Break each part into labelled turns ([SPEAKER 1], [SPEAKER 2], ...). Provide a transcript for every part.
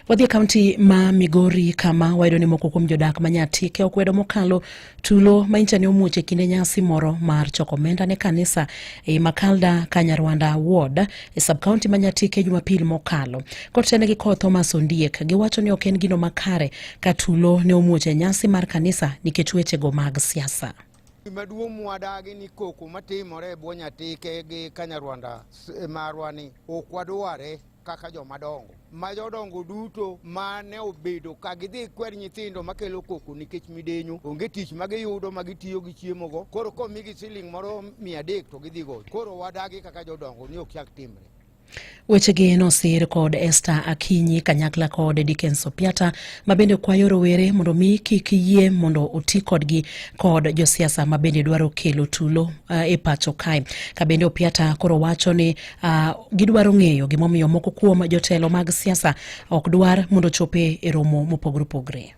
[SPEAKER 1] Wadhi e kaunti ma Migori kama wayudo ni moko kuom jodak ma Nyatike okwedo mokalo tulo ma incha ne omuoch e kinde nyasi moro mar choko omenda ne kanisa e Makalda Kanyarwanda Ward e subkaunti ma Nyatike Jumapil mokalo. Kotene gi Col Thomas Ondiek giwacho ni ok en gino makare ka tulo ne omuoch e nyasi mar kanisa nikech wechego mag siasa. Gimaduong'
[SPEAKER 2] mwadagi ni koko matimore e bwo Nyatike gi Kanyarwanda e marwa ni ok wadware. kaka joma dongo ma jodongo duto ma ne obedo ka gidhi kwer nyithindo makelo koko nikech midenyo onge tich ma giyudo ma gitiyo gi chiemogo koro komigi siling moro mia adek to gidhi goyo koro wadagi kaka jodongo ni ok chak timre Wechegi
[SPEAKER 1] nosir kod Esther Akinyi kanyakla kod Dickens Opiata ma bende kwayo rowere mondo mi kik yie mondo oti kodgi kod josiasa ma bende dwaro kelo tulo uh, e pacho kae. Ka bende Opiata koro wacho ni Uh, gidwaro ng'eyo gimomiyo moko kuom jotelo mag siasa ok dwar mondo chope e romo mopogore opogre.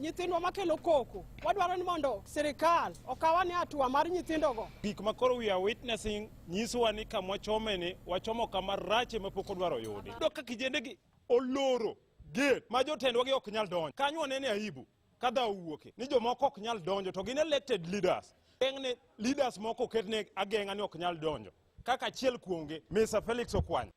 [SPEAKER 1] nyithindwa
[SPEAKER 3] makelo koko wadwaro ni mondo sirikal okawa ni atua mar nyithindogo gik ma koro we are
[SPEAKER 4] witnessing nyisowa ni kama wachomeni wachomo kama rache ma pok odwaro yudi do ka kijendegi oloro gate ma jotendwa gi ok nyal donjo kanyo wanene aibu ka dhawo wuoke ni jomoko ok nyal donjo to gin elected leaders geng'ne leaders moko oketne ageng'a ni ok nyal donjo kaka achiel kuomgi Mr. Felix Okwanya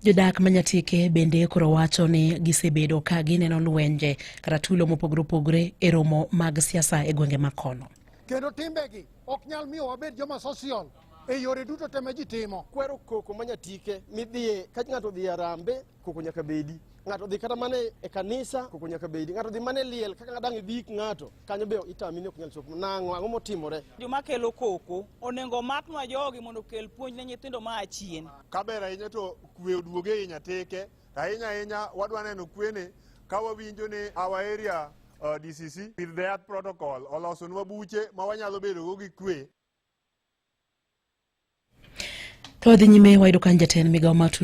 [SPEAKER 1] Jodak ma Nyatike bende koro wacho ni gisebedo ka gineno lwenje kata tulo mopogore opogore e romo mag siasa e gwenge ma kono. Kendo timbegi
[SPEAKER 5] ok nyal miyo wabed joma social e yore duto te ma ji timo. Kwero koko ma
[SPEAKER 3] Nyatike midhiye ka ng'ato odhi Arambe koko nyaka bedi ng'ato dhi kata mana e kanisa koko nyaka bedi ng'ato dhi mana e liel kaka dang' ibik ng'ato kanyo be itami ni ok nyal chopo nang'o ang'o motimore joma kelo koko
[SPEAKER 6] onego maknwa jogi mondo okel puonj ne nyithindo ma achien kaber ahinya to
[SPEAKER 7] kwe oduoge e nyateke to ahinya ahinya wadwa neno kwene ka wawinjo ni our area uh, DCC with the earth protocol olosonwa buche ma wanyalo bedogo gi kwe
[SPEAKER 1] to wadhi nyime wayudo kan jatend migawo ma